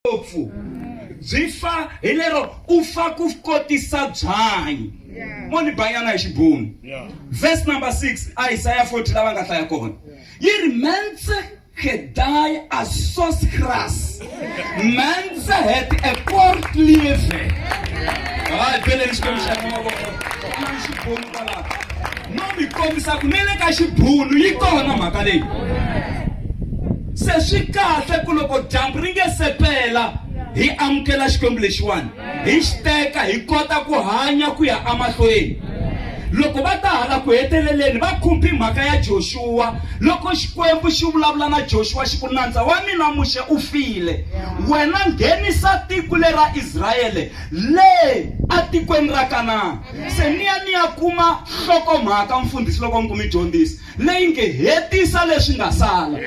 ngopfu byi fa hi lero u fa ku kotisa byanyi mo ni banyana hi xibunu verse number 6 a isaya 40 lava nga hlaya kona yi ri mense gedai a sos gras mense het e kort lieve hayi beleni xikwembu xa mavoko no mi kombisa ku ne le ka xibunu yi kona mhaka leyi se swi kahle ku loko dyambu ri nge sepela hi amukela xikwembu lexiwani hi xi teka hi kota ku hanya ku ya emahlweni loko va ta hala ku heteleleni va khumbi mhaka ya joxuwa loko xikwembu xi vulavula na joxuwa xi ku nandza wa mina muxe u file wena nghenisa tiko le ra israele le etikweni ra kanana se ni ya ni ya kuma nhlokomhaka mfundhisi loko ni kumi dyondzisi leyi nge hetisa leswi nga sala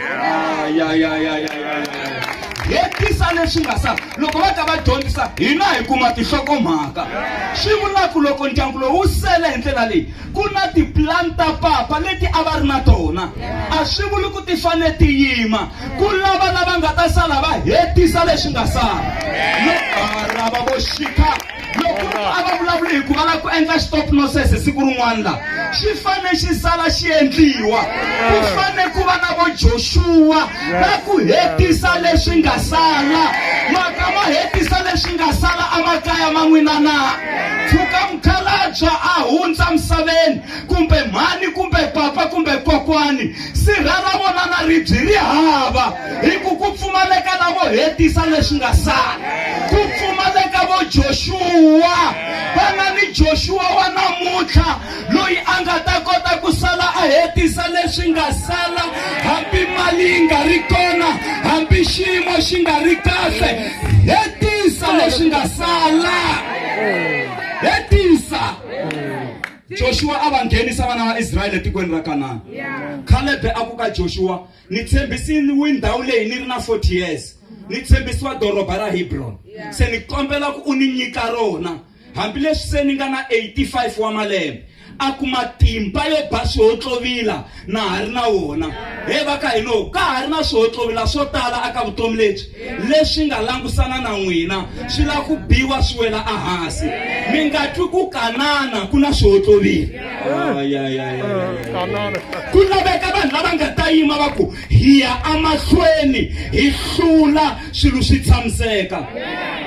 hetisa leswi nga sala loko va ta va dyondzisa hina hi kuma tinhlokomhaka swi vulaku loko ndyangu lowu wu sele hi ndlela leyi ku na tipulani ta papa leti a va ri na tona a swi vuli ku ti fane ti yima ku lava lava nga ta sala va hetisa leswi nga sala loko vo xikha loko munhu a nga vulavuli hi ku a lava ku endla stop noses siku rin'wana la xi fane xi sala xi endliwa ku fane ku va na vo joxuwa va ku hetisa leswi nga sala maka ma hetisa leswi nga sala emakaya ma n'wina na tshuka mukhalabya a hundza misaveni kumbe mhani kumbe papa kumbe kokwani Sirha ra vona na ribyi ri hava, hi ku ku pfumaleka lavo hetisa leswi nga sala. Ku pfumaleka vo Joshua, va nga ni Joshua wa namuntlha loyi a nga ta kota ku sala a hetisa leswi nga sala, hambi mali yi nga ri kona, hambi xiyimo xi nga ri kahle, hetisa leswi nga sala. Hetisa. joshua a va nghenisa vana va israyele etikweni ra kanana khalebe a ku ka joshua ni tshembisiwi ndhawu leyi ni ri na 40 years ni tshembisiwa doroba ra hebrona se ni kombela ku u ni nyika rona hambileswi se ni nga na 85 wa malembe a ku matimba yo ba swihontlovila na ha ri na wona he va ka hino ka ha ri na swohotlowila swo tala aka vutomi lebyi leswi nga langusana na n'wina swi lava ku biwa swi wela ehansi mi nga twi ku kanana ku na swohotlowila ku laveka vanhu lava nga ta yima va ku hi ya emahlweni hi hlula swilo swi tshamiseka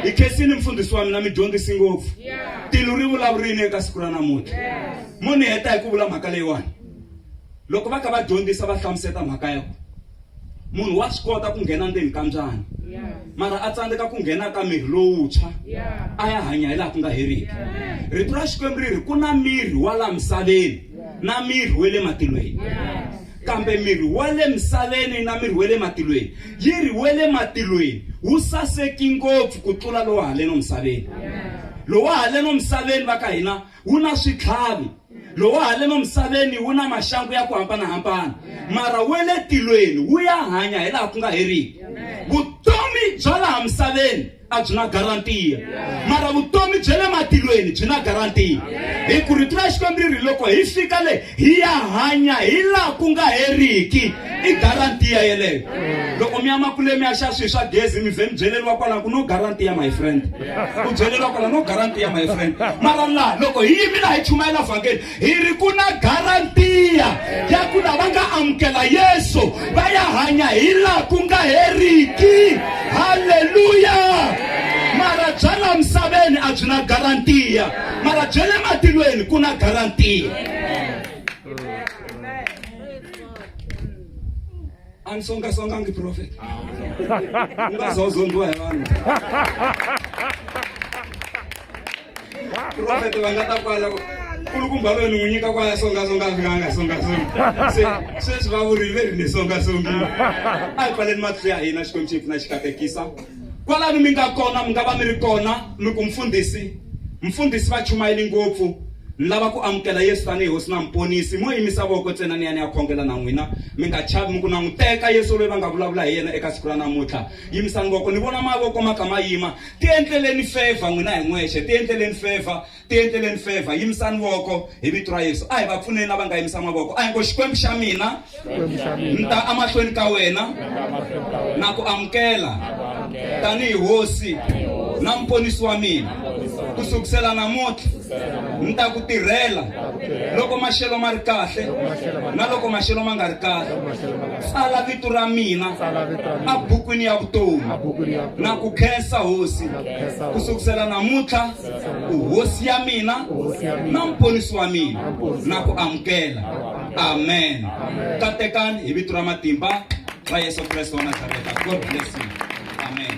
hi khensini mfundhisi wa mina mi dyondzisi ngopfu tilo ri vulavurini eka siku ra namuntlha mo ni heta hi ku vula mhaka leyiwani loko va ka va dyondzisa va hlamuseta mhaka ya ku munhu wa swi kota ku nghena ndzeni ka mbyana mara a tsandzeka ku nghena ka miri lowuntshwa a ya hanya hi laha ku nga heriki rito ra xikwembu ri ri ku na miri wa laha misaveni na miri wa le matilweni kambe miri wa le misaveni na miri wa le matilweni yi ri wa le matilweni wu saseki ngopfu ku tlula lowa haleno misaveni lowa haleno misaveni va ka hina wu na switlhavi lowu wa haleni emisaveni wu na maxangu ya ku hambanahambana mara we le tilweni wu ya hanya hi laha ku nga heriki vutomi bya laha misaveni a byi na garantiya mara vutomi bya le matilweni byi na garantiya hi ku rito ra xikwembu ri ri loko hi fika le hi ya hanya hi laha ku nga heriki i garantiya yeleyo loko mi ya makulemi ya xa swilo swa gezi mi vhe mi byeleriwa kwalano ku no garantiya my friend u byeleriwa kwalano no garantiya my friend mara laha loko hi yimi laha hi chumayela vhangeli hi ri ku na garantiya ya ku lava nga amukela yesu va ya hanya hi laha ku nga heriki halleluya mara bya laha misaveni a byi na garantiya mara bya le matilweni ku na garantiya andisongasongangi prophet ungazozondiwa hi vanhu prophet va nga ta kwala kulukumba lweni n'wi nyika kwaya songasonga fika a nga songasongi se sweswi va vurile ri ni songasongile a hi pfaleni matihlo ya hina xikwembu xi hi pfuna xi katekisa Kwalani mi nga kona, mi nga va mi ri kona, mi ku, Mfundhisi, Mfundhisi, va chumayeli ngopfu, ni lava ku amukela Yesu tanihi Hosi na Muponisi. Mo yimisa voko ntsena ni ya ni ya khongela na n'wina. Mi nga chavi, mi ku, Languteka, Yesu loyi va nga vulavula hi yena eka siku ra namuntlha. Yimisani voko. Ni vona mavoko ma kha ma yima. Tiendleleni fevha n'wina hi n'wexe. Tiendleleni fevha. Tiendleleni favor, yimisani voko hi vito ra Yesu. A hi va pfuneni lava nga yimisa mavoko. A hi ngo Xikwembu xa mina, ni ta amahlweni ka wena na ku amukela tanihi hosi na muponisi wa mina. Ku sukusela namuntlha ni ta ku tirhela loko maxelo ma ri kahle na loko maxelo ma nga ri kahle. Tsala vito ra mina a bukwini ya vutomi na ku khensa hosi ku sukusela namuntlha. uhosi ya mina na mponisi wa mina na ku amukela amen katekani hi vito ra matimba ra yesu kreste wa nazareta god bless you amen